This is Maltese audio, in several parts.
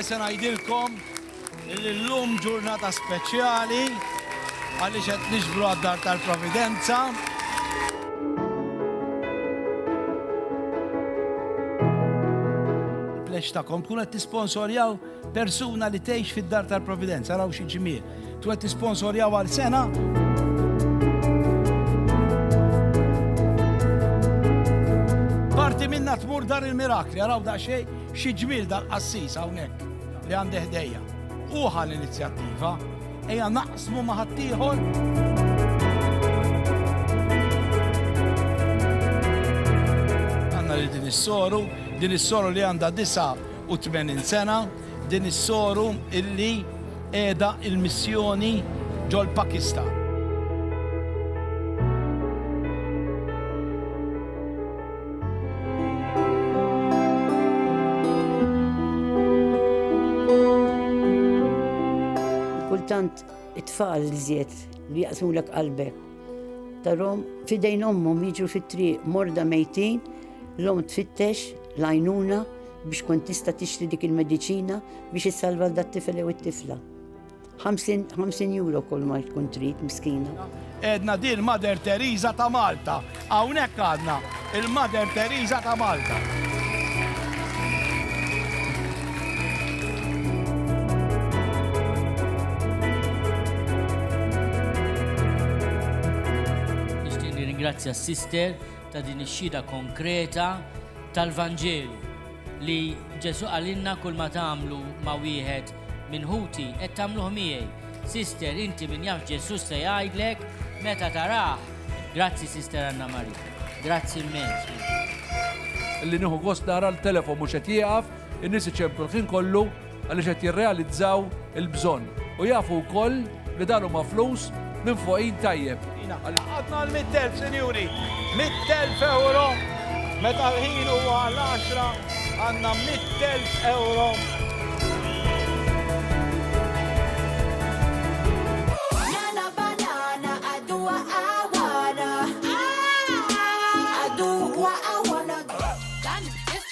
se ngħidilkom li llum ġurnata speċjali għaliex qed niġbru għad-dar tal-Providenza. Plex tagħkom tkun qed tisponsorjaw Persuna li tgħix fid-dar tal-Providenza, araw xi ġmiel, twed tisponsorjaw għal sena. tmur dar il-mirakli, għaraw da xej, xie ġmil da l-qassis għawnek li għandi ħdejja. Uħa l-inizjattiva, eja naqsmu maħattijħor. Għanna li din is-soru, din is-soru li għanda disa 182 sena din is-soru illi qiegħda l-missjoni ġol-Pakistan. Kultant it-tfal żied li jaqsmulek qalbek. Tarom fidejn ommhom jiġu fit-triq morda mejtin, l-om tfittex, lajnuna, biex tkun tista' tixtri dik il-mediċina biex issalva dat-tifel jew it-tifla. 50 euro kol ma tkun trid miskina. Edna din Mother Teresa ta' Malta. Hawnhekk għadna il-Mother Teresa ta' Malta. Nixtieq ringrazzja s-sister ta' din ix-xhieda konkreta tal-Vanġelu li Ġesù qalilna kull ma tagħmlu ma' wieħed minn ħuti qed tagħmluh miegħi. Sister, inti min jaf Ġesù x'se jgħidlek meta tarah. Grazzi Sister Anna Maria. Grazzi immens. Li nieħu gost nara l-telefon mhux qed jieqaf, in-nies iċemplu l-ħin kollu, għaliex qed jirrealizzaw il-bżonn u jafu wkoll li dan huma flus minn fuq id tajjeb. Għadna l-100,000 sinjuri, 100,000 euro, meta l-ħin huwa l-10 għandna 100,000 euro.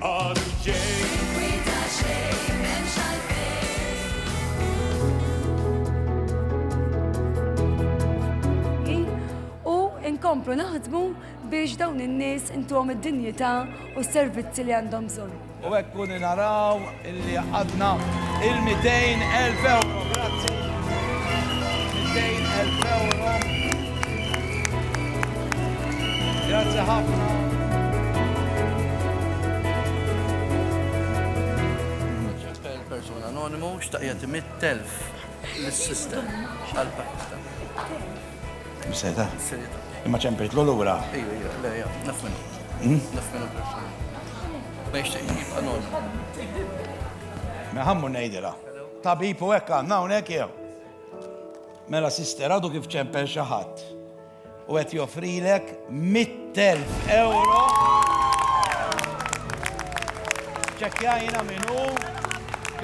Għadu ġej. Inkwita xejn m'hemmx għalfejn. U nkomplu naħdmu biex dawn in-nies intuhom id-dinjità u s-servizzi li għandhom bżonn. U hekk kuni naraw. Li jgħaqqadna il-200,000 ewro. Grazzi. 200,000 ewro. Grazzi ħafna. Persuna anonimu xtaqja timit telf l-sistem għal-Pakistan. Seta? Seta. Imma ċempejt l-lura. Ija, ija, le, ija, naf minnu. Hmm? Naf minnu persuna. Ma jixtieqx jibqa' normal. Nħammu ngħidilha. Tabib u hekk għandna hawnhekk jew? Mela sister għadu kif ċempel xi ħadd u qed joffrilek 100,000 euro. Ċekkjajna minnu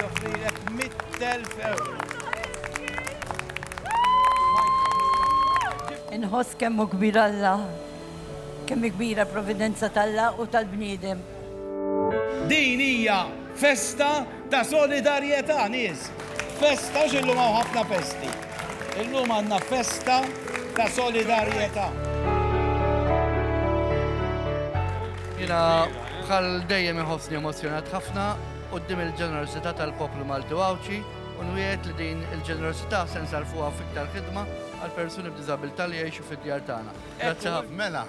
joffrilek 100,000 euro. Inħoss kemmu kbir Alla. Kemm hi kbira l-providenza t'Alla u tal-bniedem! Din hija festa ta' solidarjetà, nies! Festa, għax illum hawn ħafna festi. Illum għandna festa ta' solidarjetà. Jiena bħal dejjem inħossni emozzjonat ħafna quddiem il-ġenerożità tal-poplu Malti u Għawdxi u nwiegħed li din il-ġenerożità se nsarrfuha f'iktar ħidma għall-persuni b'diżabilità li jgħixu fid-djar tagħna. Grazzi ħafna. Mela,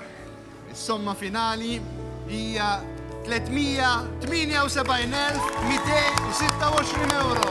is-somma finali hija 378,226 euro.